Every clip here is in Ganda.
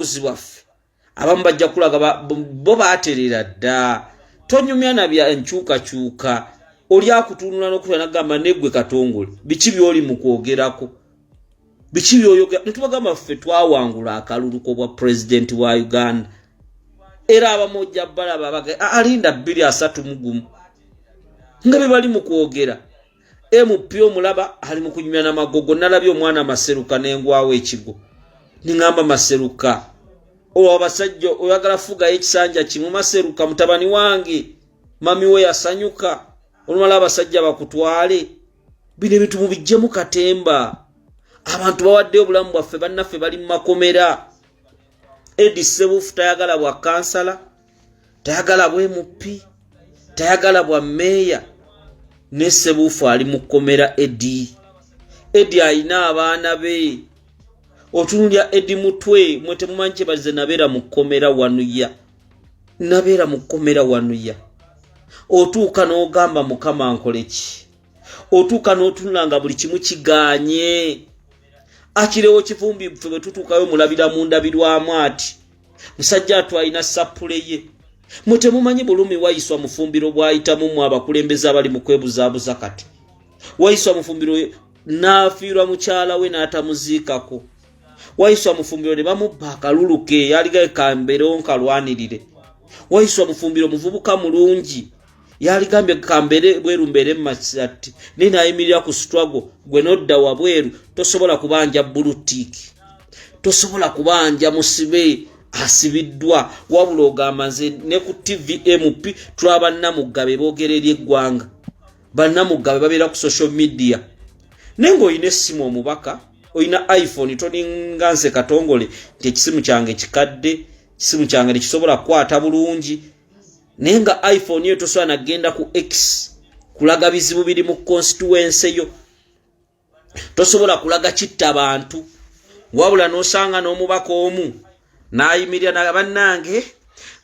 buzi bwaffe abamu bajja kulaga bo baterera dda tonyumya nabya enkyukakyuka oli akutunula nokuta nagamba negwe katongole biki byoli mukwogerako biki byoyogera netubagamba ffe twawangula akalulu kobwa pulezidenti wa uganda era abamu ojja balaba alinda bbiri asatu mugumu nga bebali mukwogera mp omulaba ali mu kunyumya namagogo nalabye omwana maseruka nengwawo ekigo ningamba maseruka owa abasajja oyagala fugayo ekisanja kimu maseruka mutabani wange mami we yasanyuka olumala abasajja bakutwale bino ebintu mubijjemu katemba abantu bawaddeyo obulamu bwaffe bannaffe bali mu makomera edi sebufu tayagala bwa kansala tayagala bwe mupi tayagala bwa meeya ne sebuufu ali mu kkomera edi edi alina abaana be otunulya edi mutwe mwe temumanyi kyebaze nabeera mu kkomera wanuya nabeera mu kkomera wanuya otuuka n'ogamba mukama nkole ki otuuka n'otunula nga buli kimu kiganye akirewo kivumbi ffe bwe tutuukayo mulabira mu ndabirwamu ati musajja atwalina sappule ye mwe temumanyi bulumi wayiswa mufumbiro bwayitamu mwe abakulembeze abali mu kwebuzaabuza kati wayiswa mufumbiro n'afiirwa mukyala we n'atamuziikako wayiswa mufumbiro ne bamubba akalulu ke yaligae kamberonkalwanirire wayiswa mufumbiro muvubuka mulungi yaligambye kambeere bweru mbeere masati naye nayimirira ku struggle gwe nodda wabweru tosobola kubanja bulutiiki tosobola kubanja musibe asibiddwa wabula ogamba nze ne ku tvmp tulaba bannamugabe boogera eri eggwanga bannamugabe babeera ku social media naye ngaolina essimu omubaka olina iphone toninga nze katongole nti ekisimu kyange kikadde ekisimu kyange tekisobola kukwata bulungi naye nga iphone yo tosobola nagenda ku x kulaga bizibu biri mu constituense yo tosobola kulaga kitta bantu wabula nosanga n'omubaka omu nayimirira na bannange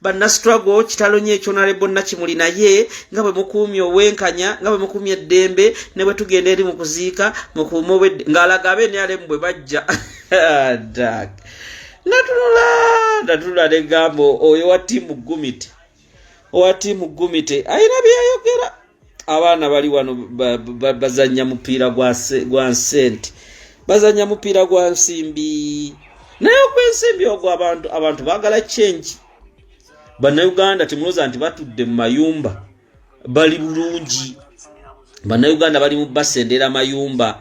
bannastrago kitalo nyo ekyonalebo nakimuli naye nga bwe mukuumye obwenkanya nga bwe mukuumye eddembe ne bwe tugenda eri mu kuziika mukuume obwedde ng'alaga abe nrm bwe bajja natunula natunula negambo oyo wa tiimu gumite owa tiimu gumite ayina byeyayogera abaana bali wano bazanya mupiira gwa nsente bazanya mupiira gwa nsimbi naye ogwensimbi ogwo abantu abantu bagala change banauganda temuloza nti batudde mu mayumba bali bulungi banauganda bali mu basendera mayumba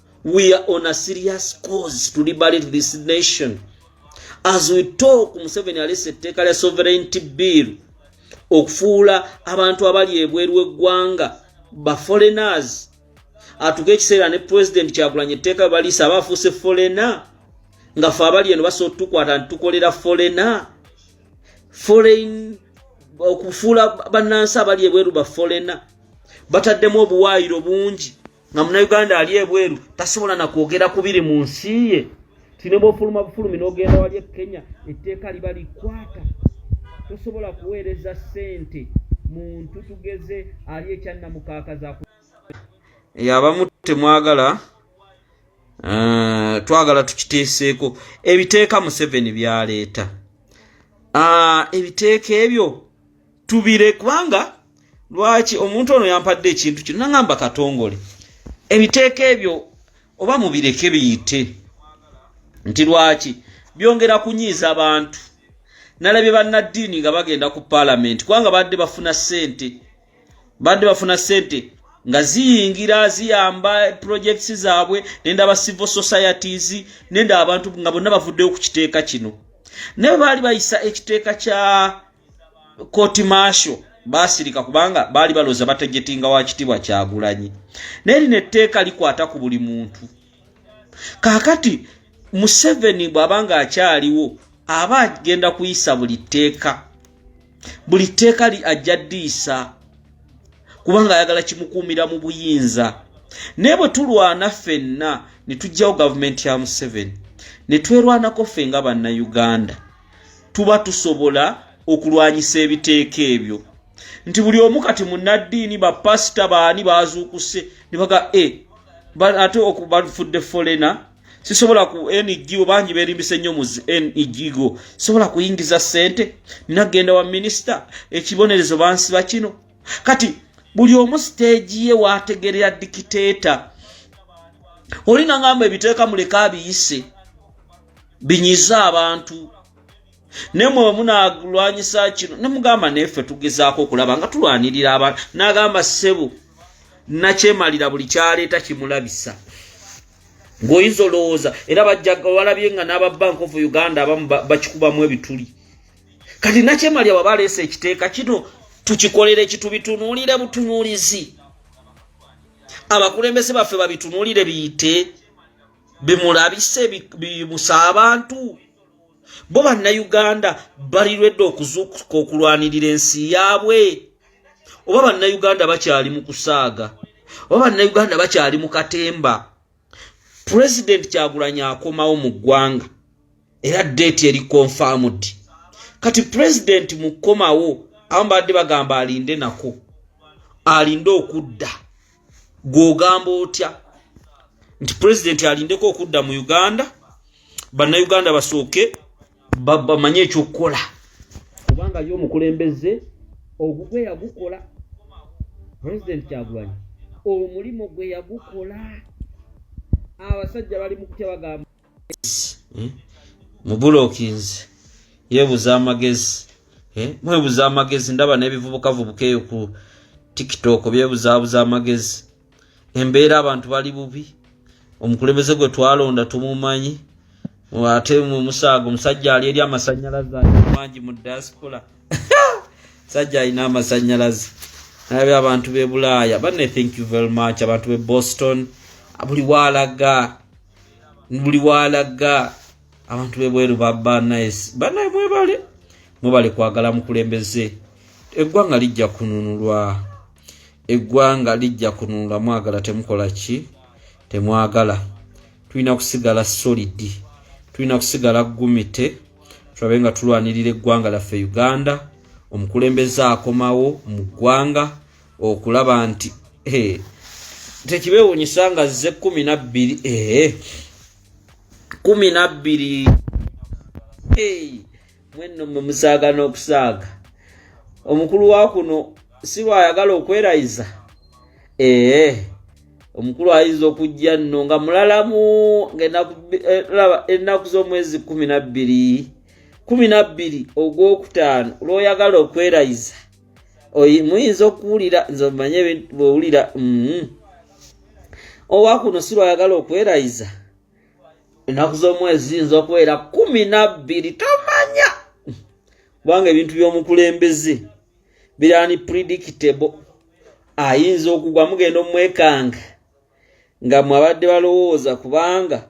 we are on a serious cause to liberate this nation as we talk museveni alesa etteeka lya sovereignty bill okufuula abantu abali ebweru eggwanga ba foreigners atuka ekiseera ne president kyagulanya etteeka baliisa aba afuuse forena nga fe abali eno basobola otutukwata nitukolera forena foreign okufuula bannansi abali ebweru ba forena bataddemu obuwaayiro bungi nga munauganda ali ebweru tasobola nakwogera kubiri mu nsi ye tine bwofuluma bufulumi nogenda wali e kenya etteeka liba likwata tosobola kuweereza sente muntu tugeze ali ekyannamukaakaza eyo abamu temwagala eh, twagala tukiteeseeko ebiteeka museveni byaleeta ah, ebiteeka ebyo tubire kubanga lwaki omuntu ono yampadde ekintu kino nangamba katongole ebiteeka ebyo oba mubireke biyite nti lwaki byongera kunyiiza abantu nalabye bannaddiini nga bagenda ku paalamenti kubanga badde bafuna ssente badde bafuna ssente nga ziyingira ziyamba purojekiti zaabwe nenda aba civil societies nenda abantu nga bonna bavuddeyo ku kiteeka kino naye baali bayisa ekiteeka kya koti maasho baasirika kubanga baali balooza batejetinga wa kitiibwa kyagulanyi naye lino etteeka likwata ku buli muntu kaakati museveni bw'aba nga akyaliwo aba agenda kuyisa buli tteeka buli tteeka ajja ddiisa kubanga ayagala kimukuumira mu buyinza naye bwe tulwana ffenna ne tugyawo gavumenti ya museveni ne twerwanako ffe nga bannayuganda tuba tusobola okulwanyisa ebiteeka ebyo nti buli omu kati munaddiini bapasita baani bazuukuse nebaga e eh, ate okubafudde folena sisobola ku ngo bangi berimbisa ennyo mu ngo sisobola kuyingiza sente nina genda wa minisita ekibonerezo bansiba kino kati buli omu siteegi ye wategerera dikiteeta oli nangamba ebiteeka muleka abiyise binyize abantu nemwe wemunalwanyisa kino nemugamba nefe tugezaako okulaba nga tulwanirira abantu nagamba sebo nakyemalira buli kyaleeta kimulabisa ng'oyinza olowooza era bajjawalabye nga n'aba bank of uganda abamu bakikubamu ebituli kati nakyemalya waba aleesa ekiteeka kino tukikolere kitubitunuulire butunuulizi abakulembeze baffe babitunuulire biyite bemulabise bimusa abantu bo bannayuganda balirwedde okuzuukuka okulwanirira ensi yaabwe oba bannayuganda bakyali mu kusaaga oba bannayuganda bakyali mu katemba pulezidenti kyagulanyi akomawo mu ggwanga era deeti eri confirmed kati pulezidenti mukukomawo abamu baadde bagamba alinde nako alinde okudda gwogamba otya nti president alindeko okudda mu uganda bannayuganda basooke bamanye ekyokukola kubanga ye omukulembeze ogugwe yagukola president kyagulanyi omulimu gwe yagukola abasajja bali mukutya bagamba eh? mubulokinzi yebuza amagezi eh? mwebuza amagezi ndaba nebivubukavubuka eyo ku tiktok byebuzabuza amagezi embeera abantu bali bubi omukulembeze gwe twalonda tumumanyi ate mumusaaga omusajja ali eri amasanyalaze mangi mu diaspora sajja alina amasanyalaze nabe abantu bebulaaya bane thank you very much abantu be boston buli waalaga buli walaga abantu bebweru banaye mwebale mwebale kwagala mukulembeze eggwanga lijja kununulwa eggwanga lijja kununulwa mwagala temukola ki temwagala tulina kusigala solidi tulina kusigala gumite tulabe nga tulwanirira eggwanga laffe uganda omukulembeze akomawo mu ggwanga okulaba nti eh, tekibewunyisa nga zze kumi nabbiri eh, kumi nabbiri mwenno mwe musaaga n'okusaaga omukulu wa kuno si lwayagala okwerayiza ee eh, omukulu ayinza okujja nno nga mulalamu ngaennaku eh, eh, z'omwezi kumi nabbiri kumi nabbiri ogwokutaano lwoyagala okwerayiza muyinza okuwulira nze omanye bwewulira mm-hmm. owakuno si lwayagala okwerayiza ennaku z'omwezi ziyinza okubeera kumi nabbiri tomanya kubanga ebintu by'omukulembeze birani predictable ayinza okugwa mugenda omwekanga nga mwabadde balowooza kubanga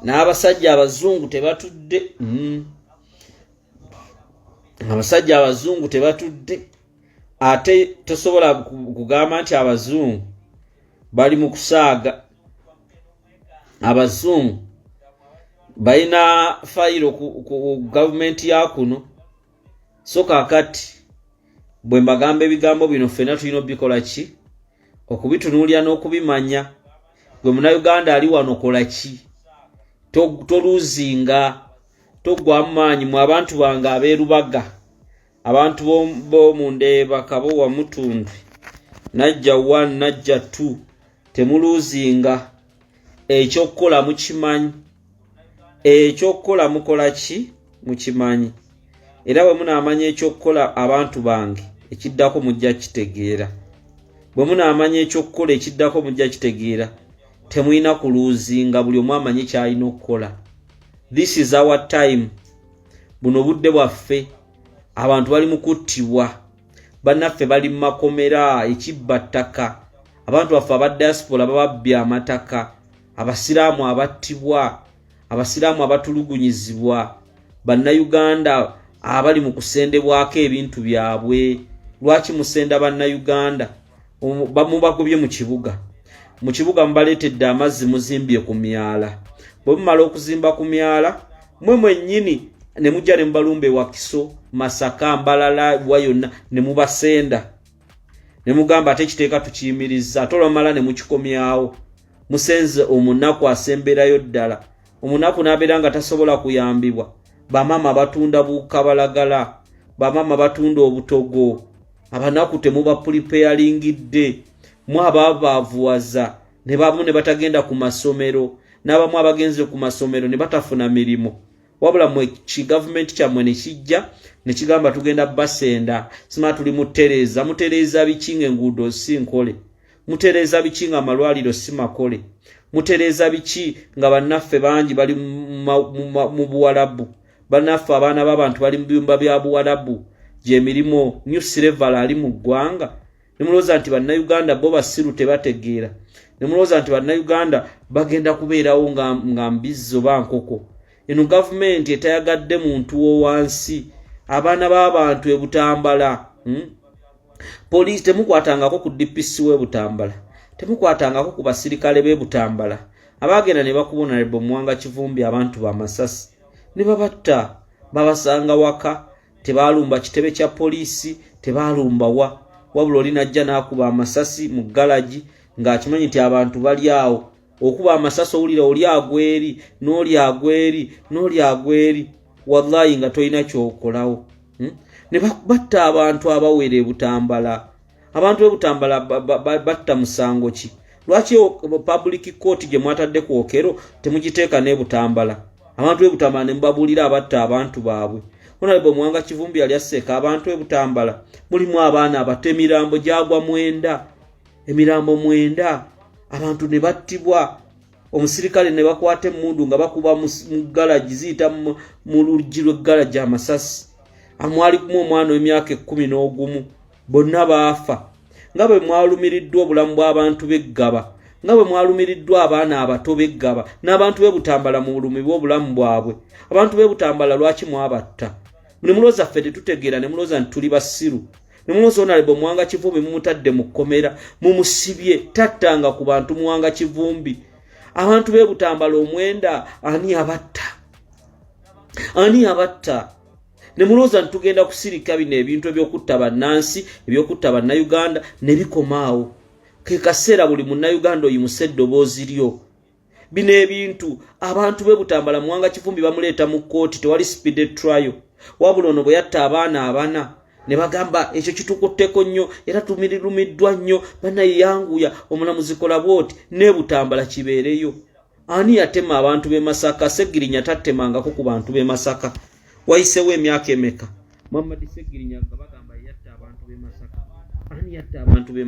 n'abasajja abazungu tebatudde mm. abasajja abazungu tebatudde ate tosobola kugamba nti abazungu bali mu kusaaga abazungu balina fayiro ku gavumenti ya kuno so kakati bwe mbagamba ebigambo bino ffena tulina obikola ki okubitunuulira n'okubimanya gwe munauganda ali wano kola ki toluzinga toggwamu maanyi mu abantu bange abeerubaga abantu bomundeeba kabo wamutundu najja one najja two temuluzinga ekyokukola mukimanyi ekyokukola mukola ki mukimanyi era bwe munaamanya ekyokukola abantu bange ekiddako mujja kitegeera bwe munaamanya ekyokukola ekiddako mujja kitegeera temulina kuluuzinga buli omu amanyi kyalina okukola this is our time buno budde bwaffe abantu bali mu kuttibwa bannaffe bali mu makomera ekibba ttaka abantu baffe aba diaspora bababbya amataka abasiraamu abattibwa abasiraamu abatulugunyizibwa bannayuganda abali mu kusendebwako ebintu byabwe lwaki musenda bannayuganda mubagobye mu kibuga mu kibuga mubaleetedde amazzi muzimbye ku myala bwe mumala okuzimba ku myala mwe mwennyini ne mujja ne mubalumba ewakiso masaka mbalala wa yonna ne mubasenda ne mugamba ate ekiteeka tukiyimirizza ate olwamala ne mukikomyawo musenze omunaku asemberayo ddala omunaku n'abeera nga tasobola kuyambibwa bamaama batunda bukabalagala bamaama batunda obutogo abanaku temubapulipeyaringidde mu ababaavuwaza ne bamu ne batagenda ku masomero n'abamu abagenze ku masomero ne batafuna mirimu wabula mwe ki gavumenti kyammwe ne kijja ne kigamba tugenda basenda sima tuli mutereeza mutereeza biki ng'enguudo si nkole mutereeza biki nga amalwaliro si makole mutereeza biki nga bannaffe bangi bali mu buwalabu bannaffe abaana b'abantu bali mu biyumba bya buwalabu gyemirimu new sireval ali mu ggwanga nemulowooza nti bannayuganda bo basiru tebategeera nemulowooza nti bannayuganda bagenda kubeerawo nga mbizzi oba nkoko eno gavumenti etayagadde muntu wowansi abaana b'abantu ebutambala hmm? poliisi temukwatangako ku dpc we butambala temukwatangako ku basirikale be butambala abaagenda ne bakuba onalebo muwanga kivumbi abantu bamasasi ne babatta babasanga waka tebaalumba kitebe kya poliisi tebaalumba wa wabula oli najja n'akuba amasasi mu galagi ng'akimanyi nti abantu bali awo okuba amasasi owulira oli agweri n'oli agweri n'oli agweri wallahi nga tolina kyokolawo hmm? ne batta abantu abawera ebutambala abantu ebutambala batta musango ki lwaki public court gye mwatadde ku okero temugiteeka n'ebutambala abantu ebutambala ne mubabuulira abatta abantu baabwe onalebo muwanga kivumbi yali asseeka abantu ebutambala mulimu abaana abato emirambo gyagwa mwenda emirambo mwenda abantu ne battibwa omusirikale ne bakwata emmundu nga bakuba mu galagi ziyita mu luggi lw'eggalagi amasasi amwali kumu omwana w'emyaka ekkumi n'ogumu bonna baafa nga bwe mwalumiriddwa obulamu bw'abantu b'eggaba nga bwe mwalumiriddwa abaana abato b'eggaba n'abantu be butambala mu bulumi bw'obulamu bwabwe abantu be butambala lwaki mwabatta ne mulooza ffe tetutegeera ne mulooza nti tuli basiru nomuwozi onalebo mwanga kivumbi mumutadde mu kkomera mumusibye tattanga ku bantu mwanga kivumbi abantu bebutambala omwenda ani abatta ani abatta nemulowooza nti tugenda kusirika bino ebintu ebyokutta bannansi ebyokutta bannayuganda nebikomaawo kekaseera buli munnayuganda oyimuse eddoboozi lyo bino ebintu abantu be butambala muwanga kivumbi bamuleeta mu kkooti tewali speede trial wabula ono bwe yatta abaana abana ne bagamba ekyo kitukutteko nnyo era tumirirumiddwa nnyo banaye yanguya omulamuzi kola bwoti ne butambala kibeereyo ani yatema abantu b'e masaka segirinya tattemangako ku bantu b'e masaka wayisewo emyaka emeka muhammadi segirinya nga bagamba yatta abantu b'e masaka ani yatta abantu b'e